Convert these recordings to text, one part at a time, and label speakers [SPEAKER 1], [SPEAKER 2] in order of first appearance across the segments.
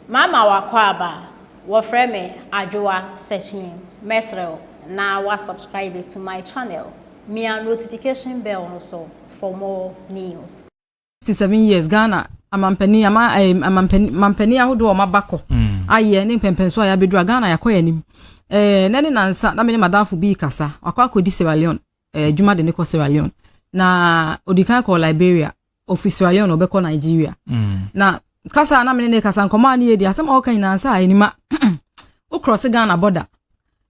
[SPEAKER 1] Mama w'akwaaba a wɔfrɛ me Adwoa Sekyini mɛsrɛ wo na wa subscribe to my channel mia notification bell no so for more news. sixty seven
[SPEAKER 2] years Ghana amampanin ama ɛɛ eh, amampanin mampanin ahodoɔ a wɔaba kɔ mm. ayɛ ne mpɛmpɛnso a yɛabɛduru a Ghana yɛakɔ yɛn anim ɛɛ eh, na ne nansa na me ne madamfo bi kasa wakɔ akɔdi Sierra Leone ɛɛ eh, adwuma de ne kɔ Sierra Leone na odi kan kɔɔ Liberia ofi Sierra Leone ɔbɛkɔ Nigeria na kasa a na mene ne kasa nkɔmɔ a ne yɛdi asɛm a ɔka nyinaa sɛ a anima wo cross Ghana border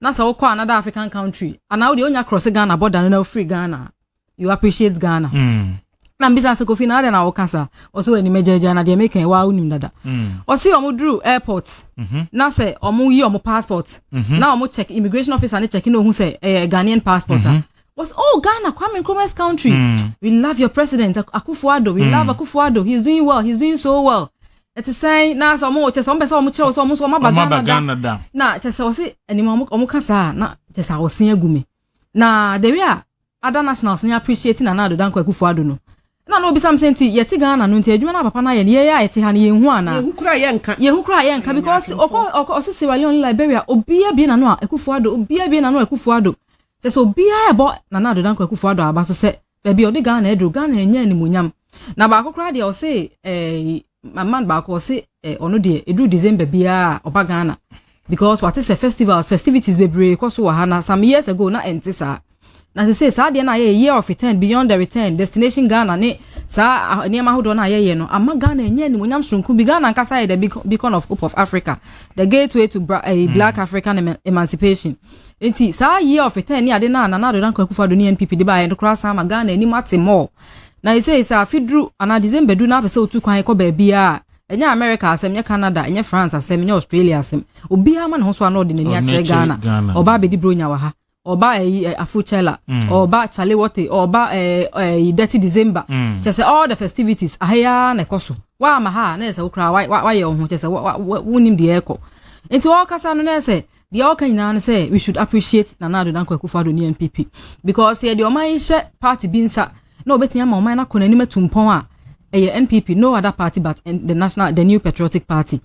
[SPEAKER 2] na sɛ wokɔ another African country anaa wodeɛ wonya cross Ghana border no na wofiri Ghana you appreciate Ghana mm. na mbisa sɛ kofi na adɛn na woka saa ɔsɛ wɔ anima gyaagyaa na deɛ meka ɛwɔ a wonim dada mm. ɔse ɔmo duru airport mm-hmm. na sɛ ɔmo yi ɔmo passport mm-hmm. na ɔmo check immigration officer ne check na ohu sɛ ɛyɛ Ghanaian passport a mm-hmm. was oh Ghana Kwame Nkrumah's country mm. we love your president Akufo-Addo we mm. love Akufo-Addo he's doing well he's doing so well ɛte sɛn na sɛ ɔmo kyɛ sɛ ɔmo pɛ sɛ ɔmo kyerɛ sɛ ɔmo nso ɔmo aba Ghana da na kyɛ sɛ ɔsi anim ɔmo ɔmo ka saa na kyɛ sɛ ɔsi egu mi na the way a other nationals ni appreciate Nana Addo Dankwa Akufo-Addo no Ɛna na ɔbisa me sɛ nti yɛte Ghana no nti adwuma no a papa no ayɛ no yɛn a yɛte ha no yɛnhu anaa? Yɛn ho koraa yɛnka. Yɛn ho koraa yɛnka because ɔkɔ ɔkɔ ɔse Sierra Leone Liberia obiara bue n'ano a Akuffo Addo obiara bue n'ano a Akuffo Addo kyerɛ sɛ obiara ɛbɔ Nana Addo Dankwa Akuffo Addo aba so sɛ baabi a ɔde Ghana aduru Ghana ɛnyɛ animuonyam na baako koraa deɛ ɔse ɛɛ Ma man baako ɔse eh, ɔno deɛ ɛduru December biara a ɔba Ghana because wate sɛ festivals festivities bebree kɔ so wɔ ha na some years ago na ɛnte saa na sɛ sɛ saa deɛ no a yɛyɛ year of return beyond the return destination Ghana ne saa ah, nneɛma ahodoɔ no a yɛyɛ no ama Ghana ɛnyɛ animonyam soronko bi Ghana ankasa yɛ the beacon of hope of Africa the gateway to bra, eh, hmm. black African emancipation nti saa year of return ne ade no a Nana Addo Dankwa Akufo-Addo ne NPP de baeɛ no koraa san ma Ghana anim ate more Na ɛsei sɛ afe duru anaa December du na apɛ sɛ otu kwan kɔ baabiara a, ɛnyɛ America asɛm, ɛnyɛ Canada, ɛnyɛ France asɛm, ɛnyɛ Australia asɛm. Obiara ma ne ho so a na ɔde n'ani akyerɛ Ghana. Ɔba abɛdi Bronya wɔ ha. Ɔba ɛyi eh, Afrochella. Mm. Ɔba Chalewote. Ɔba eh, eh, Dirty December. Mm. Kyɛ sɛ all the festivities aha yi ara na ɛkɔ so. Woama ha a na yɛ sɛ wo koraa woayɛ wo ho kyɛ sɛ wonim deɛ ɛrekɔ. Nti ɔkasa no na yɛ sɛ deɛ ɔka nyinaa no sɛ we should appreciate Nana Addo Dankwa Akufo-Addo ne NPP because yɛ deɛ ɔman yi hyɛ party bi nsa na obetumi ama ɔman no akɔ n'anim atu mpɔn a ɛyɛ NPP no other party but the national the new patriotic party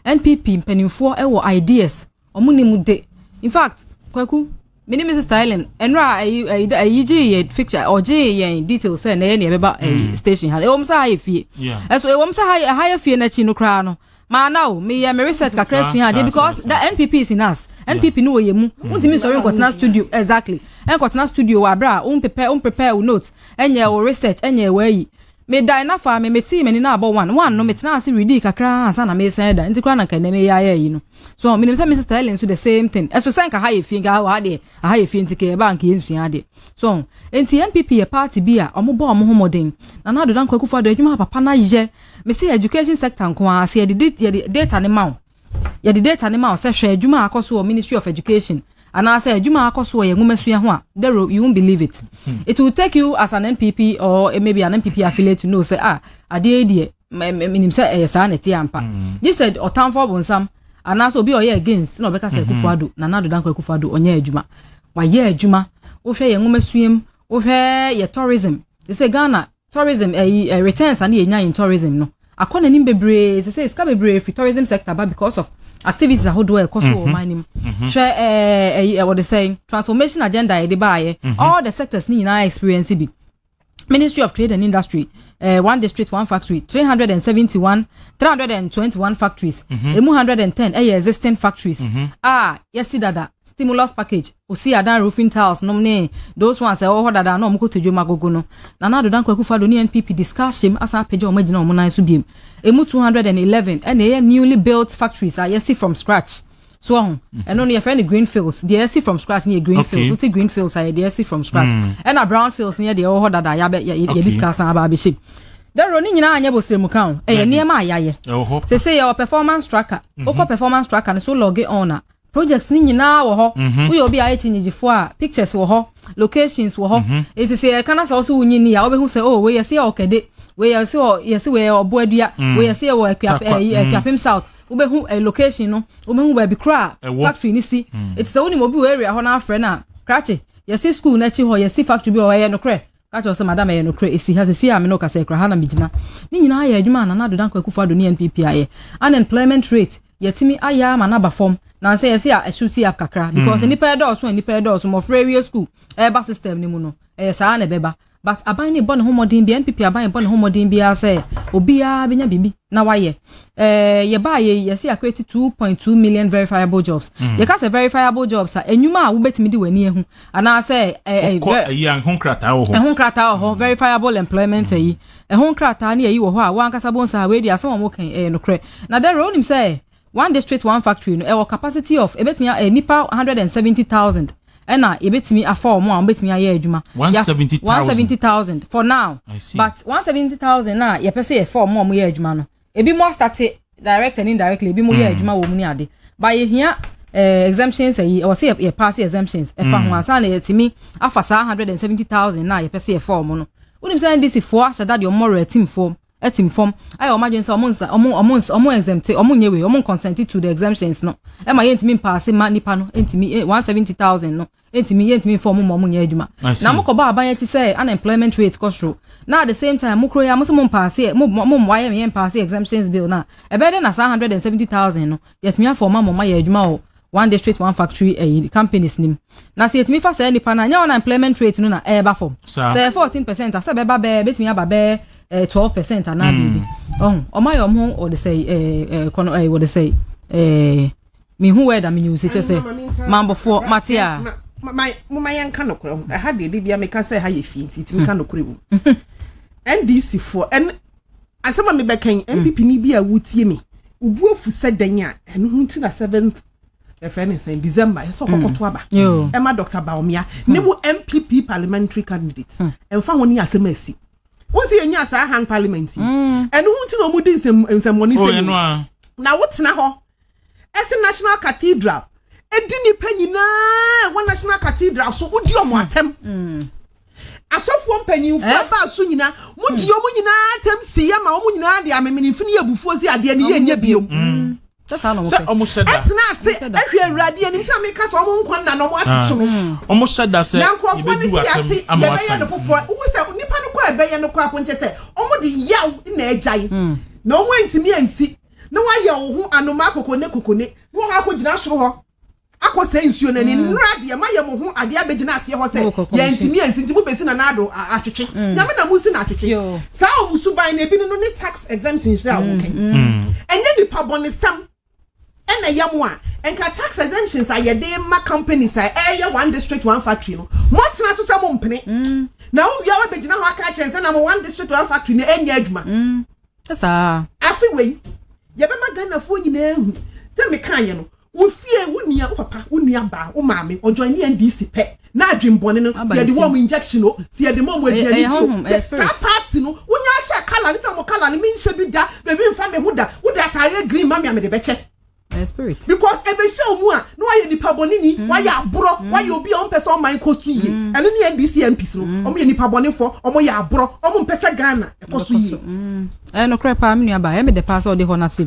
[SPEAKER 2] NPP mpanimfoɔ ɛwɔ ideas ɔmo ne mu de in fact kwaku me ne Mrs. Styling ɛnura ɛyi ɛyi ɛyi gye yɛ picture ɔgye yɛn details sɛ na yɛ na yɛbɛba ɛyi station ha ɛwɔ mu sɛ ha yɛ fie ɛso ɛwɔ mu sɛ ha yɛ ha yɛ fie n'akyi no koraa no. Maa na o, meyɛ me research kakra sua adeɛ because the NPP is in us. NPP no wɔ yɛ mu. Wontumi nsɔre nkɔtena studio exactly. Ɛnkɔtena studio wɔ abere a wo prepare wo prepare wo notes, ɛnyɛ wo research, ɛnyɛ w'ayi. Me dae na fa me, me tee m'ani na abɔ one, one no me tenaa ase readii kakra ara ansa na me resan ada. Nti koraa na nka ɛnɛ me yɛ ayɛ ayi no. So menim sɛ Mrs Sterling nso the same thing. Ɛso sɛ nka ha yɛ fie nka wɔ ha deɛ aha yɛ fie nti kɛ ɛbaa nka yɛn sua adeɛ. So nti NPP yɛ party bi a ɔmo bɔ ɔmo ho mmɔden. Nana Addo Dankwa Akufo Addo adwuma a papa no ayɛ. Me se education sector nko ara se yɛde yɛde data ne ma wo yɛde data ne ma wo sɛ hwɛ adwuma a akɔ so wɔ ministry of education anaasɛ adwuma a akɔ so wɔ yɛn nwomasua ho a dero you won't believe it hmm. it will take you as an npp or maybe an npp affiliate to know sɛ ah adeɛ yi deɛ menim sɛ ɛyɛ saa na ɛte ampa hmm. gye sɛ ɔtamfo ɔbonsam anaasɛ obi a ɔyɛ against na ɔbɛka sɛ hmm. akufo ado nana ado danko akufo ado ɔnyɛ adwuma wayɛ adwuma wohwɛ yɛn nwomasua mu wohwɛ yɛ tourism te sɛ ghana Tourism ɛyi ɛ returns a ne yɛ nya in tourism no akɔ n'anim bebree sese sika bebree firi tourism sector ba because of activities ahodoɔ a ɛkɔ so wɔ ɔman no mu hwɛ ɛɛ ɛyi ɛwɔ de sɛn transformation agenda yɛde baayɛ all the sectors ne nyinaa experience bi ministry of trade and industry uh, one district one factory 371 321 factories mm -hmm. emu 110 ɛyɛ existing factories mm -hmm. a yɛsi dada stimulus package Osii adan roofing tiles nom ne those ones a ɛwɔ hɔ dada a na wɔn kɔtɔ dwom agogo no. Nana Addo Dankwa Akufo Addo ne NPP de sika ahyem asan apagya wɔn agyina wɔn nan so biom. Ɛmu two hundred and eleven ɛna ɛyɛ newly built factories a yɛasi from scratch. So wahu? Mhm. Ɛno no yɛfrɛ no green fields. Deɛ yɛasi from scratch no yɛ green fields. Okay. Wote green fields a yɛ deɛ yɛasi from scratch. Mm. Ɛna brown fields no yɛ deɛ ɛwɔ hɔ dada a yɛabɛ- yɛ- yɛ- yɛde Okay. sika asan aba abɛhyem. Daro ne nyinaa anyɛ bosire mu ka o. Ɛyɛ Dabi. nneɛma a yɛayɛ. Ɛwɔ hɔ. Sɛ sɛ yɛwɔ performance tracker. Wokɔ performance tracker no so log on a projects no nyinaa wɔ hɔ mhm. woyɛ obi a ayɛ kyinyigyefoɔ a pictures wɔ hɔ locations wɔ hɔ mhm. nti sɛ yɛka na sɛ ɔso wonyi ni a wobɛhu sɛ oh wei yɛse yɛ ɔkɛde wei yɛse yɛse wei yɛ ɔbo adua mm. wei yɛse yɛ wɔ akuapem mm. south wobɛhu eh, location no wobɛhu baabi koro a factory no si mm. nti sɛ wonim obi wɔ area hɔ no afrɛ no a krakye yɛse school no akyi hɔ yɛsi factory bi wɔ hɔ ɛyɛ nokorɛ Ka kyerɛ wo sɛ madam ɛyɛ nokorɛ ɛsi ha sɛsi a me ne wo kasa ɛkura ha na me gyina ne nyinaa yɛ adwuma a Nana Addo Dankwa Akufo Addo ne NPP ayɛ unemployment rate yɛtumi ayɛ ama no aba fam nansɛ yɛse a ɛso ti up kakra because nnipa ɛdɔɔso a nnipa ɛdɔɔso mmɔfra awie school ɛreba system no mu no ɛyɛ saa na ɛbɛba but aban no bɔ ne ho mmɔden bia NPP aban bɔ ne ho mmɔden biara sɛ obiara bɛnya biribi na wayɛ ɛɛ yɛbaa yɛ yɛse akɔɛti 2.2 million verifiable jobs yɛka sɛ verifiable jobs a enyuma a wobɛtumi de w'ani ahu anaasɛ wokɔ ayi a ɛho nkrataa wɔ hɔ ɛho nkrataa wɔ hɔ mm. verifiable employment ayi mm. ɛho nkrataa ne ayi wɔ hɔ a wankasa bɔ nsa a wei di asɛm a wɔka ɛyɛ nokorɛ na dɛrɛ wonim sɛ one district one factory no ɛwɔ capacity of ɛbɛtumi eh, nipa one hundred and seventy thousand ɛna yɛbɛtumi afa wɔn a wɔbɛtumi ayɛ adwuma one seventy thousand for now but one seventy thousand na yɛpɛ sɛ yɛfa wɔn a wɔyɛ adwuma no ebi mo asate direct and indirectly ebi mo yɛ hmm. adwuma wɔ mu ne ade ba yɛhia eh, exemptions ayi ɛwɔ sɛ yɛ pass exemptions ɛfa ho hmm. ansa na yɛtumi afa saa hundred and seventy thousand na yɛpɛ sɛ yɛfa wɔn no wonim sɛ ndc foɔ ahyɛ da deɛ wɔn mɔrɔ atim fam atim fam ayɛ wɔn adwene sɛ wɔn nsa wɔn wɔn wɔn exempt wɔn nyɛ wei wɔn consent to the exemptions no ɛma yɛntumi mpaase ma nipa no ntumi eh, one seventy thousand no ntumi yɛntumi nfa wɔn ma wɔn nyɛ adwuma na wɔn kɔbɔ aban akyi sɛ unemployment rate kɔ soro na at the same time mo kuro yi a mo sɛ mo mpaase mo mo mo ayɛ yɛ mpaase exemptions bill na ɛbɛyɛ dɛ na saa hundred and seventy thousand no yɛtumi afa wɔn ma wɔn ma yɛ adwuma wɔ one district one factory ɛyi eh, companies nim na sɛ yɛtumi fa saa nipa na nyɛ unemployment rate no na ɛɛba fam sɛ fourteen percent asɛ bɛba bɛɛ bɛtumi aba bɛɛ eh, twelve percent anaa biribi ɔmo ayɛ ɔmo wɔde sɛ ɛɛ kɔnɔ ɛɛ wɔde sɛ ɛɛ. me hu word a me nyiwuse kyɛ sɛ mambɔfoɔ mate a. moma
[SPEAKER 3] yɛn ka nokorɛ ho ɛha deɛ de bia meka sɛ ɛha yɛ fie nti tumi ka hmm. nokorɛ wom ndc foɔ ɛn asɛm a mebɛka yi npp hmm. ni bi a wotie me obu afu sɛ dɛn a ɛno ho nti na seventh ɛfɛ ne sɛn december ɛsɛ ɔkɔkɔto hmm. aba ɛma dr baomia ne wo npp parliamentary candidate ɛmfa ho ne asɛm asi wọ́n sì yẹn nyà sáà hang parliament yìí ẹnu hu ti na ọmọ di nsẹmọni sẹyìn na wọ́n tena hɔ ɛse National Cathedral di nnipa nyinaa a ɛwɔ National Cathedral so wodi wɔn atɛm. Asɔfoɔ mpanyinfoɔ eh? baa so nyinaa modi wɔn nyinaa atɛm si yɛ ma wɔn nyinaa de amemenimfini yɛ abufuo si adeɛ ne yɛ nyɛ biom. Mm. sɛ
[SPEAKER 4] ɔmo hyɛ da ɛtena ase ɛhwɛ awurade
[SPEAKER 3] anim sɛ meka sɛ ɔmo nkɔ nna na ɔmo ate so no ɔmo hyɛ da sɛ yɛbɛdi watɛm ama wasan na
[SPEAKER 4] nkurɔfoɔ no si yɛte
[SPEAKER 3] yɛbɛyɛ no foforɔ wohu sɛ nnipa no kɔ a ɛbɛyɛ no kɔ apo nkyɛ sɛ ɔmo de yaw na agyae na ɔmo antumi ansi na woayɛ wo ho anomaa kokone kokone. Na wɔn akɔgyina soro hɔ akɔsɛe nsuo no ani. Nnora deɛ, moayɛ mo ho adeɛ abɛgyina aseɛ hɔ sɛ, Yɛantumi ansi, enti mobɛsi Nana Addo atwetwe. Nyame na mosi no atwetwe. Saa wɔn suban no, ebi ne no ne tax exemption nhyira a wɔka yi. Ɛnyɛ nipabɔnesɛm na ɛyɛ mo a, nka tax exemptions a yɛde ma companies a ɛreyɛ one district, one factory no, moatena so sɛ mompene. Na wowie a woabɛgyina hɔ aka akyerɛ yɛn sɛ na mo one district, one factory no ɛnyɛ adwuma. Saa.
[SPEAKER 2] Afe wei,
[SPEAKER 3] yɛbɛma Ghanafoɔ nyinaa ahu sɛ mekaeɛ no, wo fie, wo nua, wo papa, wo nua baa, wo maame, ɔjoine NDC pɛ, na adwen bɔne no, sɛ yɛde ma ɔmo injection o, sɛ yɛde ma ɔmo aduane di o, sɛ saa party no, wonya hyɛ colour no, sɛ ɔmo colour no, menhyɛ bi da, baabi mfa me ho da, wode ataareɛ green ma me a, mede bɛkyɛ.
[SPEAKER 2] Because ɛbɛhyɛ
[SPEAKER 3] wo mu a na wayɛ nipa bɔne ni, wayɛ aborɔ, wayɛ obi a ɔmpɛ sɛ ɔman kɔ so yie. Ɛno ne NDC MPs no, wɔyɛ nipa bɔnefoɔ, wɔyɛ aborɔ, wɔmpɛ sɛ Ghana
[SPEAKER 2] ɛkɔ so
[SPEAKER 3] yie. Ɛyɛ
[SPEAKER 2] nokorɛ paa me
[SPEAKER 3] nuabaa,
[SPEAKER 2] ɛyɛ me
[SPEAKER 3] dɛ
[SPEAKER 2] paa sɛ wode hɔ
[SPEAKER 3] no
[SPEAKER 2] ato mu.